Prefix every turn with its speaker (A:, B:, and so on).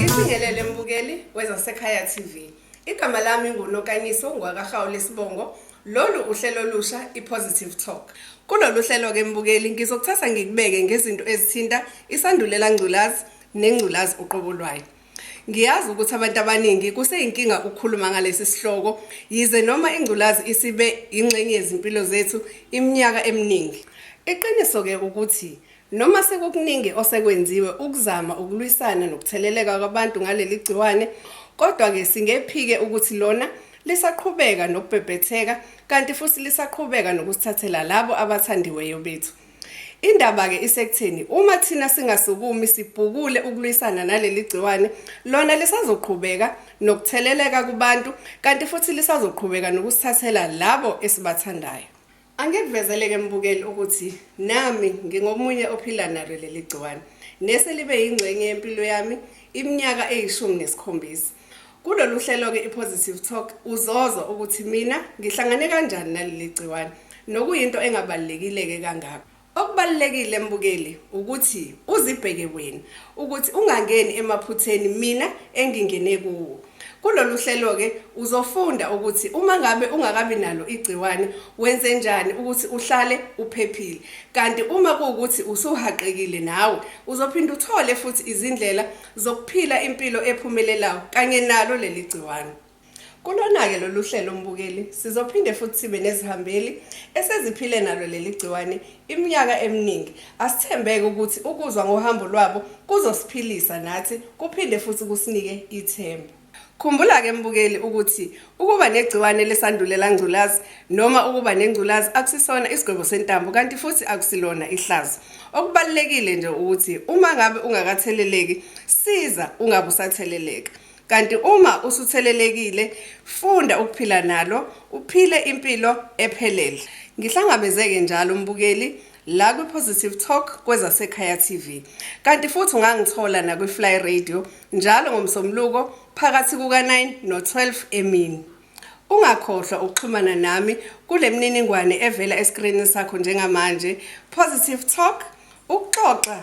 A: Ngibingelele mbukeli wezasekhaya TV. Igama lami nguNokanyiso ngwakaHawu lesibongo. Lolu uhlelo olusha iPositive Talk. Kulolu hlelo ke mbukeli ngizokuthatha ngikubeke ngezinto ezithinta isandulela ngculazi nengculazi uqobo lwayo. Ngiyazi ukuthi abantu abaningi kuseyinkinga ukukhuluma ngalesi sihloko, yize noma ingculazi isibe yingxenye yezimpilo zethu iminyaka eminingi. Iqiniso-ke ukuthi noma sekukuningi osekwenziwe ukuzama ukulwisana nokutheleleka kwabantu ngaleli gciwane, kodwa-ke singephike ukuthi lona lisaqhubeka nokubhebhetheka kanti futhi lisaqhubeka nokusithathela labo abathandiweyo bethu. Indaba-ke isekutheni uma thina singasukumi sibhukule ukulwisana naleli gciwane, lona lisazoqhubeka nokutheleleka kubantu kanti futhi lisazoqhubeka nokusithathela labo esibathandayo. Angikuvezele-ke mbukeli ukuthi nami ngingomunye ophila nalo leli gciwane neselibe yingxenye yempilo yami iminyaka eyishumi nesikhombisa. Kulolu hlelo-ke iPositive Talk uzozwa ukuthi mina ngihlangane kanjani naleli gciwane nokuyinto engabalulekile-ke kangako. Okubalulekile mbukeli ukuthi uzibheke wena ukuthi ungangeni emaphutheni mina engingene kuwo. Kulolu hlelo-ke uzofunda ukuthi uma ngabe ungakabi nalo igciwane wenze njani ukuthi uhlale uphephile. Kanti uma kuwukuthi usuhaqekile nawe uzophinde uthole futhi izindlela zokuphila impilo ephumelelayo kanye nalo leli gciwane. Kulona-ke lolu hlelo mbukeli sizophinde futhi sibe nezihambeli eseziphile nalo leli gciwane iminyaka eminingi. Asithembeke ukuthi ukuzwa ngohambo lwabo kuzosiphilisa nathi kuphinde futhi kusinike ithemba. Khumbula ke mbukeli ukuthi ukuba negciwane lesandulela ngculazi noma ukuba nengculazi akusisona isigwebo sentambo kanti futhi akusilona ihlazo. Okubalulekile nje ukuthi uma ngabe ungakatheleleki siza ungabe usatheleleka. Kanti uma usuthelelekile funda ukuphila nalo uphile impilo ephelele. Ngihlangabezeke njalo mbukeli la kwi-positive talk kwezasekhaya tv kanti futhi ungangithola nakwi-fly radio njalo ngomsomluko phakathi kuka-9 no-12 emini ungakhohlwa ukuxhumana nami kule mininingwane evela esikrinini sakho njengamanje positive talk ukuxoxa